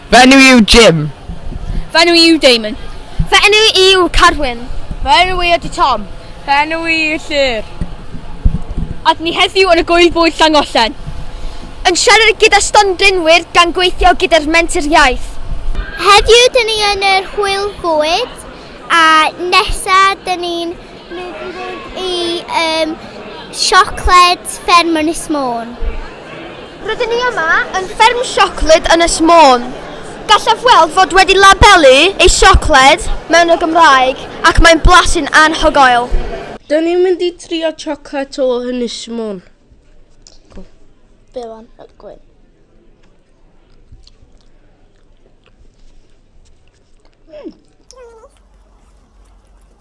Fy enw i yw Jim. Fy enw i yw Damon. Fy enw i yw Carwyn. Fy enw i ydy Tom. Fy enw i yw Llyr. Ad ni heddiw yn y gwyl bwyd Llangollen. Yn siarad gyda stondinwyr gan gweithio gyda'r Menter Iaith. Heddiw dyn ni yn yr hwyl fwyd a nesa dyn ni'n i um, siocled fferm yn Ysmôn. Rydyn ni yma yn fferm siocled yn Ysmôn. Gallaf weld fod wedi labelu ei siocled mewn y Gymraeg ac mae'n blasu'n anhygoel. Dyn ni'n mynd i trio siocled o yn Ysmôn. Bewan, gwyn.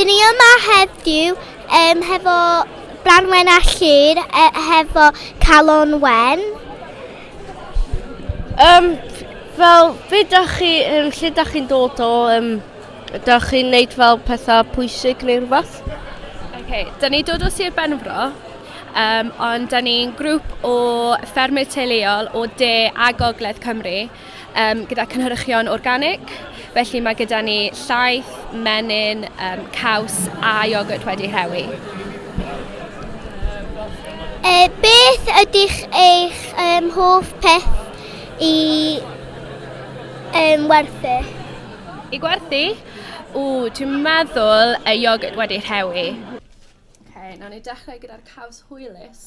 Dyn ni yma heddiw um, hefo Branwen a Llyr, e, hefo Calon Wen. Um, fel, be da chi, um, lle da chi'n dod o, um, da chi'n neud fel pethau pwysig neu rhywbeth? Okay, da ni dod o Sir Benfro, um, ond da ni'n grŵp o ffermydd teuluol o de a gogledd Cymru. um, gyda cynhyrchion organic, felly mae gyda ni llaeth, menyn, um, caws a iogwrt wedi rhewi. E, beth ydych eich um, hoff peth i um, werthu? I gwerthu? O, dwi'n meddwl y iogwrt wedi rhewi. Okay, nawr ni dechrau gyda'r caws hwylus.